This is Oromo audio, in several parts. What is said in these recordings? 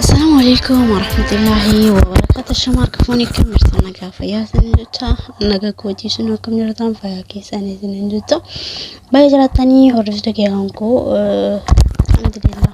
Assalamu alaikum warahmatullahi wabarakatuh. Shamaa kafoonii kan mirsa nagaa fayyaa isin jecha naga kootii sun akkam jirtan fayyaa keessan isin jecha baay'ee jiraatanii hordoftoota kiyaan koo alhamdulillah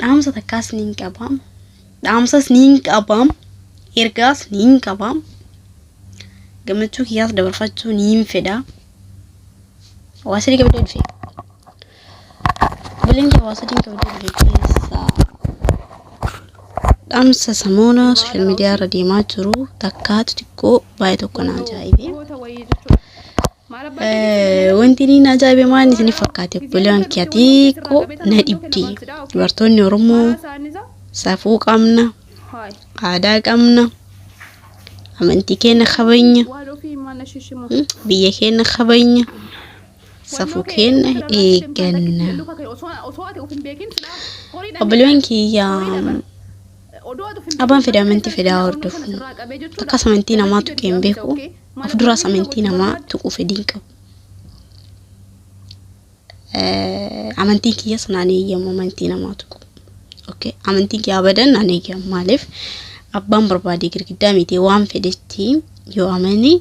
dhaamsa takkaas ni hin qabaam dhaamsas ni hin qabaam ergaas ni hin qabaam gammachuu kiyyaas dabarfachuu ni hin fedha waa sadii qabdee dhufe buleen kee waa sadii qabdee dhufe keessaa dhaamsa samoona sooshaal miidiyaa irra deemaa jiru takkaa xixiqqoo baay'ee tokko na ajaa'ibe. Wanti inni ajaa'ibe maal isiniif fakkaate obboleewwan kiyya xiqqoo na dhibde dubartoonni Oromoo safuu qabna aadaa qabna amantii keenya kabajna biyya keenya kabajna safuu keenya eegganna obboleewwan kiyya abbaan fedha amantii fedhaa hordofu akkas amantii namaatu keen beeku of duraas amantii namaa tuquu fedhiin qabu. Amantiin kiyyas naan eeyyamu amantii namaa tuqu. Okay. Amantiin kiyya abadan naan eeyyamu maaliif abbaan barbaade girgiddaa miti waan fedhetti yoo amane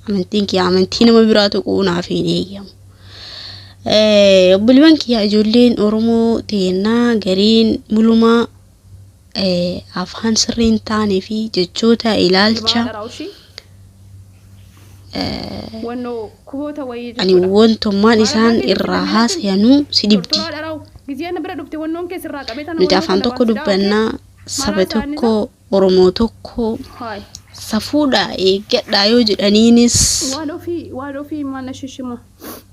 amantiin kiyya amantii nama biraa tuqu naaf hin eeyyamu. Obboleewwan kiyya ijoolleen Oromoo teennaa gariin mulumaa afaan sirrii hin taanee fi jechoota ilaalcha ani wantummaan isaan irraa haasayanuu si dhibdi. Nuti afaan tokko dubbannaa saba tokko Oromoo tokko safuudhaa eeggadhaa yoo jedhaniinis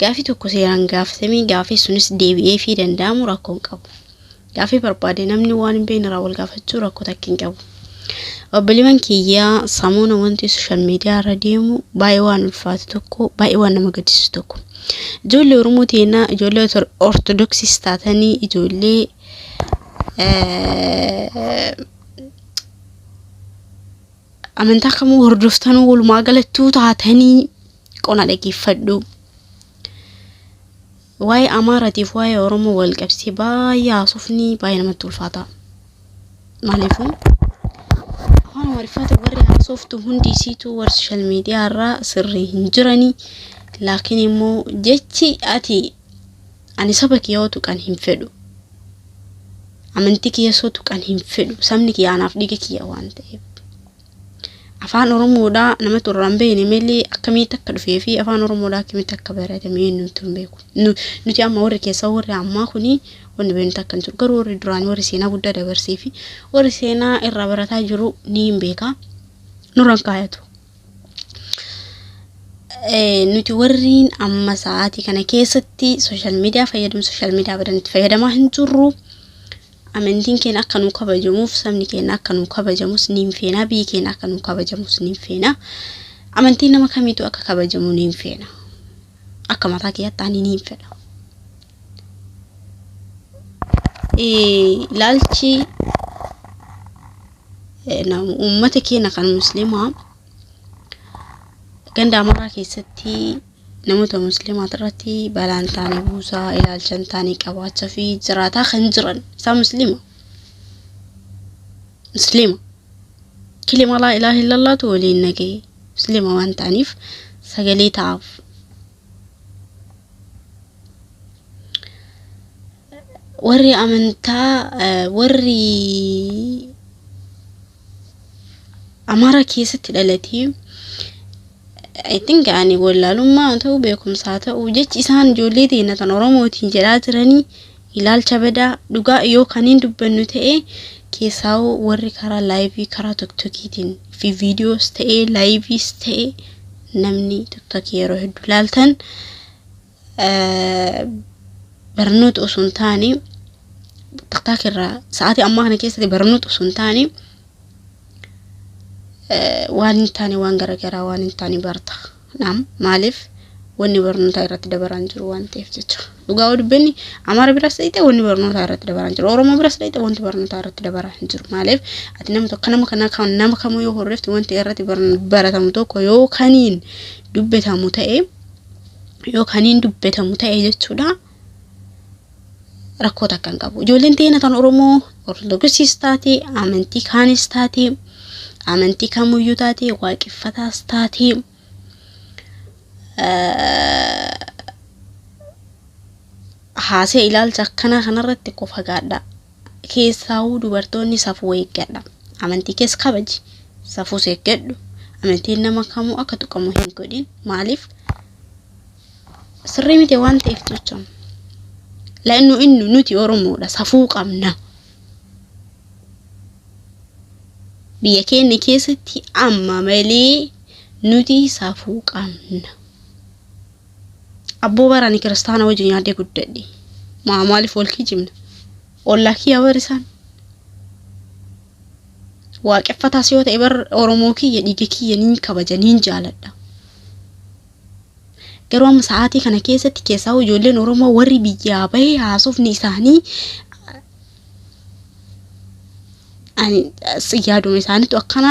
Gaafii tokko seeraan gaafatamee gaafii sunis deebi'eefii danda'amu rakkoo hin qabu. Gaafii barbaade namni waan hin beekne irraa wal gaafachuu rakkoo takka hin qabu. Obboleewwan kiyyaa samuuna wanti sooshaal miidiyaa irra deemu baay'ee waan ulfaatu tokko baay'ee waan nama gaddisiisu tokko. Ijoollee Oromoo teenna ijoollee Ortodoksiis taatanii ijoollee amantaa kamuu hordoftanuu walumaa galattuu taatanii qona dhageeffadhu. Waa'ee Amaaraatiif waa'ee Oromoo wal qabsee baay'ee haasofni baay'ee namatti ulfaata. Maaliifuu afaan Amaariffaatiin warri haasoftu hundi isiitu warri sooshaal miidiyaa irraa sirrii hin jirani. Laakiin immoo jechi ati ani saba kee yoo tuqan hin fedhu. Amantii kee yoo tuqan hin fedhu. Sabni kee anaaf dhiiga kiyya waan ta'eef. Afaan Oromoodhaa namatu irraa hin beekne malee akkamitti akka dhufee fi afaan Oromoodhaa akkamitti akka baratame eenyumtu hin beeku. Nu- Nuti amma warri keessaa warri ammaa kuni wanni beeknu takka hin jiru. Garuu warri duraanii warri seenaa guddaa dabarsee fi warri seenaa irraa barataa jiru ni hin beeka. Nurra hin kaayatu. Eh, nuti warriin amma sa'aatii kana keessatti sooshaal miidiyaa fayyadamu sooshaal miidiyaa badan itti fayyadamaa hin jirru. Amantiin keenya akka nuu kabajamuuf sabni keenya akka nuu kabajamus niin feena biyyi keenya akka nuu kabajamus niin feena amantiin nama kamiitu akka kabajamu niin feena akka mataa kiyyaatti ani niin fedha. Ilaalchi uummata keenya kan musliimaa ganda amaraa keessatti Namoota musliimaat irratti balaa hin taane buusaa, ilaalcha hin taane qabaachaa fi jiraataa kan jiran isaa musliima. Musliima. Kilima laa ilaaha illallaatu waliin nagahee. Musliima waan ta'aniif sagalee ta'aaf. Warri amantaa eh, warri Amaaraa keessatti dhalatee I think ani wallaalummaa haa ta'u beekumsaa haa ta'u jechi isaan ijoollee teenya tan Oromootiin jedhaa jiranii ilaalcha badaa dhugaa yoo kan hin dubbannu ta'e keessaa warri karaa laayivii karaa tokkokiitiin fi viidiyoos ta'e laayiviis ta'e namni tokkoki yeroo hedduu laaltan barnoota osoo hin taane tiktaak irraa sa'aatii ammaa kana keessatti barnoota osoo hin taane waan hin taane waan garaagaraa waan hin taane barta naam maaliif wanni barnootaa irratti dabaraan jiru waan ta'eef jecha dhugaa yoo dubbanne amaara biras dhayite wanni barnootaa irratti dabaraan jiru oromoo biras dhayite wanti barnootaa irratti dabaraan hin jiru maaliif ati nama tokko nama kana kan nama kamuu yoo horreefte wanti irratti baratamu tokko yoo kaniin dubbatamu ta'e yoo kan hin dubbatamu ta'e jechuudha rakkoo takka hin qabu. Ijoolleen teena kan Oromoo Ortodoksiis taate amantii kaanis taate amantii kamuyyuu taate waaqeffataas taate haasee ilaalcha akkanaa kanarratti qofa gaadhaa. Keessaawuu dubartoonni safuu eeggadha. Amantii kees kabaji. Safuus eeggadhu. Amantiin nama kamuu akka tuqamu hin godhin. Maaliif? Sirrii miti waan ta'eef jecha. La'innu innu nuti Oromoodha. Safuu qabna. Biyya keenya keessatti amma malee nuti safuu qabna. Abboo bara ani kiristaana wajjin yaadee guddadhe. Maa maaliif wal kijibna? Ollaa kiyya bar isaan. Waaqeffataas yoo ta'e bar Oromoo kiyya dhiiga kiyya niin kabaja niin jaaladha. Garuu amma sa'aatii kana keessatti keessaa ijoolleen Oromoo warri biyyaa bahee haasofni isaanii yaaduma isaaniitu akkana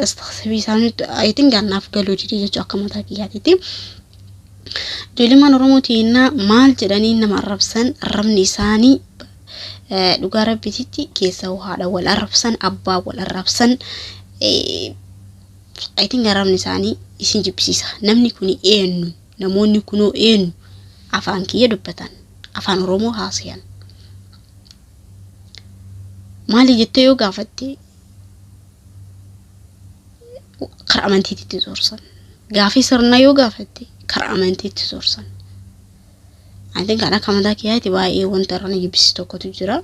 astaghfirii isaaniitu ayitiin gannaaf galuu dide jechuu akka mataa kiyyaatiiti. Ijoolleen Oromoo teennaa maal jedhanii nama arrabsan arrabni isaanii dhugaa rabbititti keessa haadha wal arrabsan abbaa wal arrabsan ayitiin arrabni isaanii isin jibbisiisa namni kun eenyu. Namoonni kunoo eenyu? Afaan kiyya dubbatan. Afaan Oromoo haasayan. Maali jettee yoo gaafatte kara amantiitti zorsan. Gaafii sirnaa yoo gaafatte kara amantiitti zorsan. Antiin kan akka mataa kiyyaatti baay'ee wanta irra na jibbisiisu tokkotu jira.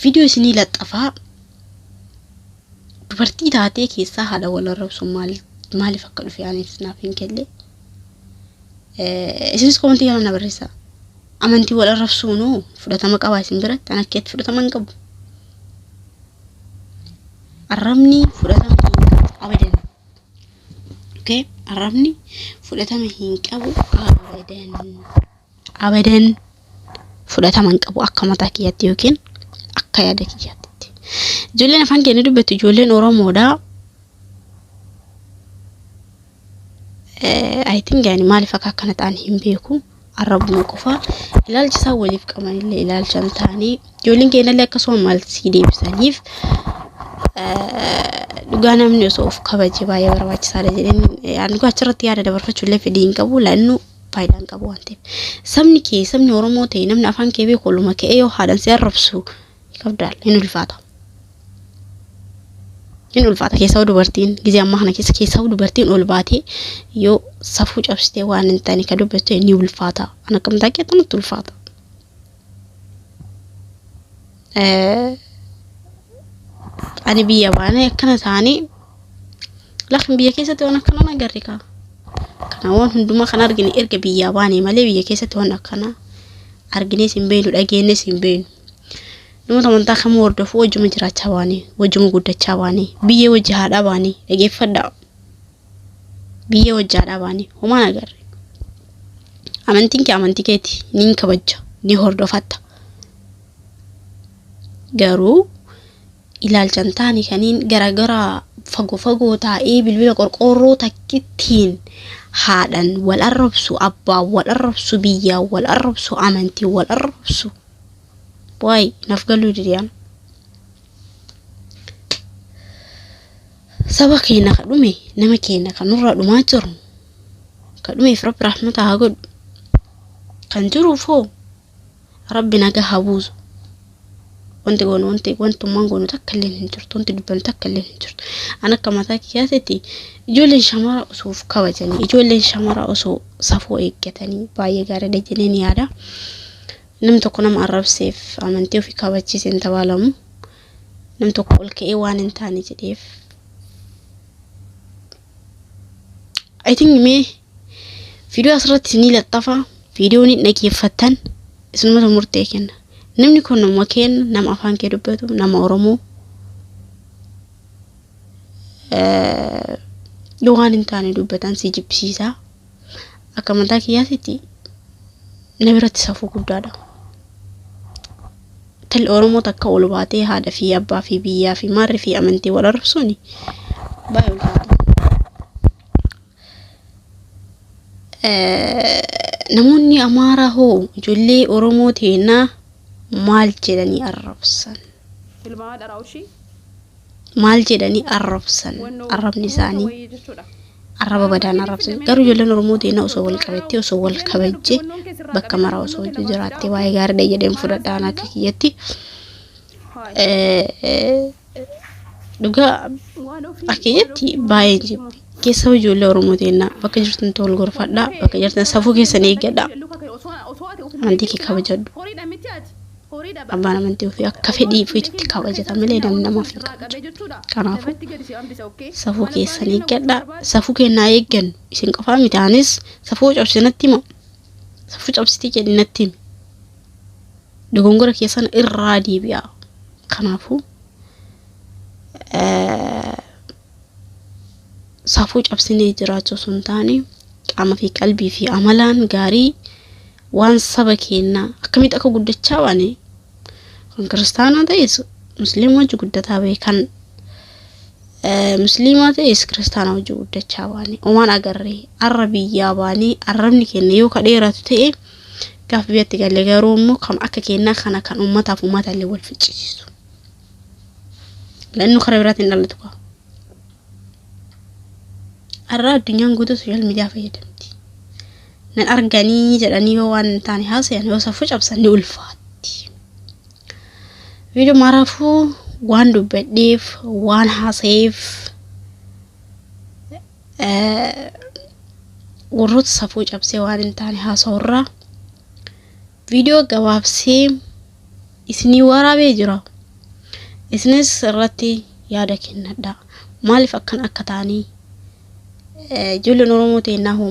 Viidiyoo isinii laxxafaa Dubartii taatee keessaa haala wal arrabsuun maal maaliif akka dhufe anis naaf hin galle. Eh, Isinis komantii kana na barreessaa. Amantii wal arrabsuun hoo fudhatama qabaa isin biratti? Ana keetti fudhatama hin qabu. Arrabni fudhatama hin qabu abadan. Okay? Arrabni fudhatama hin qabu abadan. abadan fudhatama hin qabu akka mataa kiyyaatti yookiin akka yaada kiyyaatti. Ijoolleen afaan keenya dubbattu ijoolleen Oromoodha. I think yani maaliif akka akkana ta'an hin beeku. Arrabuma qofa ilaalcha isaan waliif qabanillee ilaalcha hin taane ijoolleen keenyallee akkasuma maal sii deebisaniif dhugaa namni osoo of kabaje baay'ee barbaachisaadha jedheen dhugaa achirratti yaada dabarfachuu illee fedhii hin qabu laannu faayidaa hin qabu waan ta'eef. Sabni kee sabni Oromoo ta'e namni afaan kee beeku oluma ka'ee yoo haadhan si arrabsu qabdaal hin ulfaata. Hin ulfaata keessaa dubartiin gizee ammaa kana keessa keessaa dubartiin ol baatee yoo safuu cabsitee waan hin taane ka dubbattu ni ulfaata. An akkamtaa kee tanatti ulfaata. Ani biyya baanee akkana ta'anii lakin biyya keessatti waan akkanaa na garri kaa. Kana waan hundumaa kan argine erga biyyaa baanee malee biyya keessatti waan akkanaa arginees hin beeknu dhageenyees hin beeknu. Namoota amantaa kamuu hordofuu wajjuma jiraachaa baanee wajjuma guddachaa baanee biyyee wajji haadhaa baanee dhageeffadhaa. Biyyee wajji haadhaa baanee homaa na garre. Amantiin kee amantii keeti niin kabajja ni hordofatta. garuu ilaalcha hin taane kaniin garagaraa fagoo fagoo taa'ee bilbila qorqoorroo takkittiin haadhan wal arrabsu abbaan wal arrabsu biyyaan wal arrabsu amantiin wal arrabsu waay naf galuu didiyaan saba keenya ka dhume nama keenya kan nurra dhumaa jiru ka dhumeef rabbi rahmata haa godhu kan jiruuf hoo Rabbi naga haa buusu. Wanti goonu wanti wantummaan goonu takka illee hin jirtu. Wanti dubbannu takka illee hin jirtu. An akka mataa kiyyaatitti ijoolleen shamaraa osoo of kabajanii ijoolleen shamaraa osoo safuu eeggatanii baay'ee gaariidha jedheen yaada. Nam tokko nama arrabseef amantii ofii kabachiise hin tabaalamu. Nam tokko ol ka'ee waan hin taane jedheef. I think mee Viidiyoo asirratti ni laxxafa. Viidiyoo ni dhaggeeffattan isinumatu murtee kenna. Namni kun nama keenya nama afaan kee dubbatu nama Oromoo yoo waan hin taane dubbatan si jibbisiisa. Akka mataa kiyyaatitti na biratti safuu guddaadha. Talli Oromoo takka ol baatee haadha fi abbaa fi biyyaa fi maarri fi amantii wal arrabsuuni baay'ee ulfaata. Namoonni Amaaraa hoo ijoollee Oromoo teenaa maal jedhanii arrabsan? Tilmaamaa dharaa ushii. Maal jedhanii arrabsan? Arrabni isaanii Wayii jechuudha. arraba badaan arrabsan. Garuu ijoolleen Oromoo teenaa osoo wal qabattee, osoo wal kabajjee, bakka maraa osoo wajjin jiraattee baay'ee gaariidha jedheen fudhadha ana akka kiyyatti. Haay. Eh, eh, Dhugaa akka kiyyaatti baay'een jibbe. Keessa hojii ijoollee Oromoo teennaa bakka jirtan ta'u wal gorfadhaa bakka jirtan safuu keessan eeggadhaa. Amantii kee kabajadhu. Abbaan amantii ofii akka fedhii ofiitti kabajata malee namni namaaf hin kabaju. Kanaafuu safuu keessan eeggadhaa. Safuu kennaa eeggannu isin qofaa miti anis safuu cabse natti hima. Safuu cabsitee jedhi natti himi. dogongora keessan irraa deebi'aa kanaafuu eh, safuu cabsinee jiraachuu osoo hin taane qaama fi qalbii fi amalaan gaarii waan saba keennaa akkamitti akka guddachaa baane kan kiristaanaa ta'es musliima wajji guddataa bahe kan eh, musliimaa ta'es kiristaanaa wajji guddachaa baane omaan agarree arra biyyaa baanee arrabni keenya yoo ka dheeratu ta'e Gaaf biyyatti galle garuu immoo kan akka kennaa kana kan uummataaf uummata illee wal ficcisiisu. Lannu karaa biraatti hin dhalatu qaba. Har'a addunyaan guutuu sooshaal miidiyaa fayyadamti. Nan arganii jedhanii yoo waan hin taane haasayan yoo safuu cabsan ni ulfaatti. Viidiyoo maraafuu waan dubbadheef waan haasayeef warroota safuu cabsee waan hin taane haasa'urraa viidiyoo gabaabsee isinii waraabee jira isinis irratti yaada kennadha maaliif akkan akka taanii ijoolleen oromoo teennaa hoo